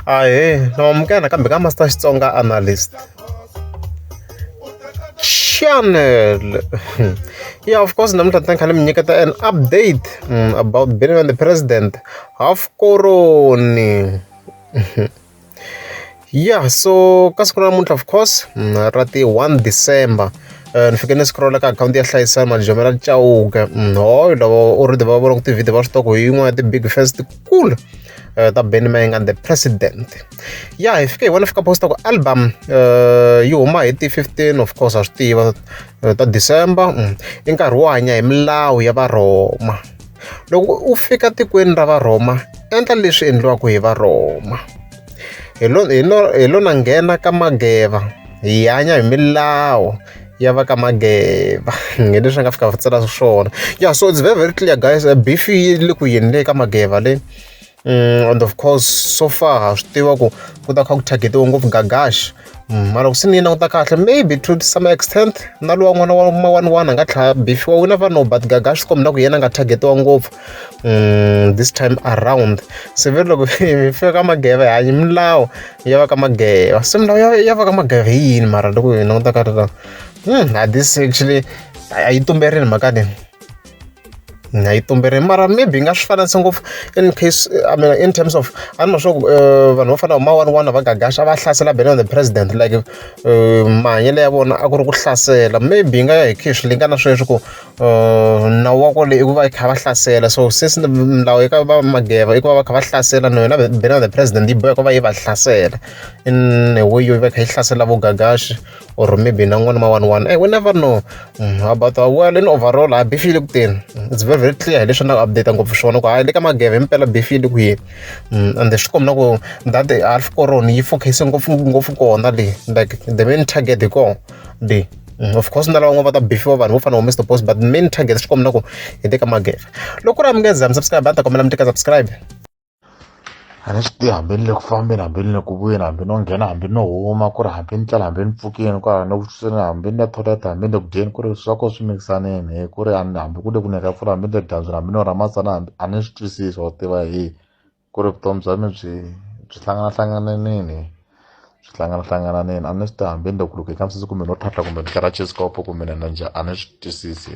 Ahee na amukela nakambe ka Master Xitsonga Analyst. Channel. Yeah, of course, namuntlha ntlhani kha ni mi nyiketa an update mm, about Benny and the President half koroni. Yeah, so ka siku ra namuntlha of course mm, ra ti 1 December Eh, ni fike ni scrolla ka akhawunti ya hlayisana malijomela cauka mm, hoyo lava already va vona ku tivhidi va swi tiva ku hi yin'wana ya ti-big fans kulu uh, ta ben mang and the president ya hi fike hi vona fika posta ku album uh, yi huma hi ti 15 of course a swi tiva uh, ta december mm. i nkarhi wo hanya hi milawu ya varhoma loko u fika tikweni ra varhoma endla leswi endliwaka hi varhoma hi lona nghena ka mageva hi hanya hi milawu ya va ka Mageba hi leswi a nga fika va tsala swona ya so it's very very clear guys beef yi le ku yini le ka Mageba le mm, and of course so far ha swi tiva ku ku ta kha ku targetiwa ngopfu gagash mm, mara ku se ni yi languta kahle maybe to some extent na lowa n'wana wa ma one one a nga tlhaya beef wa wina va no but gagash swi kombela ku yena a nga targetiwa ngopfu um this time around se ve loko mi fika ka mageve hanyi milawu ya va ka mageva se milawu ya ya va ka mageva hi yini mara loko hi languta ka rona hmm a this actually a yi tumberini mhaka leyi na yi tumberini mara maybe yi nga swi fananisi ngopfu in case i mean in terms of a ni ma swa ku eh, vanhu vo fana va mawani wani va gagaxa va hlasela bene the president like eh, mahanyelo ya vona a ku ri ku hlasela maybe yi nga ya hi khishi leyi nga na sweswi ku nawu wa kona i ku va i kha va hlasela so since milawu eka va mageva i ku va va kha va hlasela na yona bela the president yi boheka va yi va hlasela in a way yo va kha yi hlasela vo gagashi or maybe na n'wana ma one one hey, we never know mm, about our well in overall ha bifile kuteni it's very very clear hileswi na ku update ngopfu swona ku hayi le ka mageva himpela bifile ku yini mm, and swi kombi na ku that half coron yi focuse ngopfu ngopfu kona le like the main target hi kona le of course na lava van'wana va ta befiwa vanhu vo fana wa mr boss but main target swi kombela ku hi teka magere loko ku ri a mi nge za mi subscribe a ni ta kombela mi teka subscribe a ni swi tivi hambi ni le ku fambeni hambi ni le ku vuyeni hambi no nghena hambi no huma ku ri hambi ni tlela hambi ni pfukeni ku ri ni vuxiseni hambi ni le thoyilete hambi ni le ku dyeni ku ri swa ko swi mikisanini hi ku ri hambi ku le ku ni ka pfula hambi ni le dyambyini hambi no ra matsana hambi a ni swi twisisi wa tiva hi ku ri vutomi bya mi byi byi hlanganahlangananini byi hlanganahlangananini a ni swi ta hambi ni loko loko hi kambisisi kumbe no tlhatlha kumbe ni kara chesikopo kumbe ni na njhani a ni swi twisisi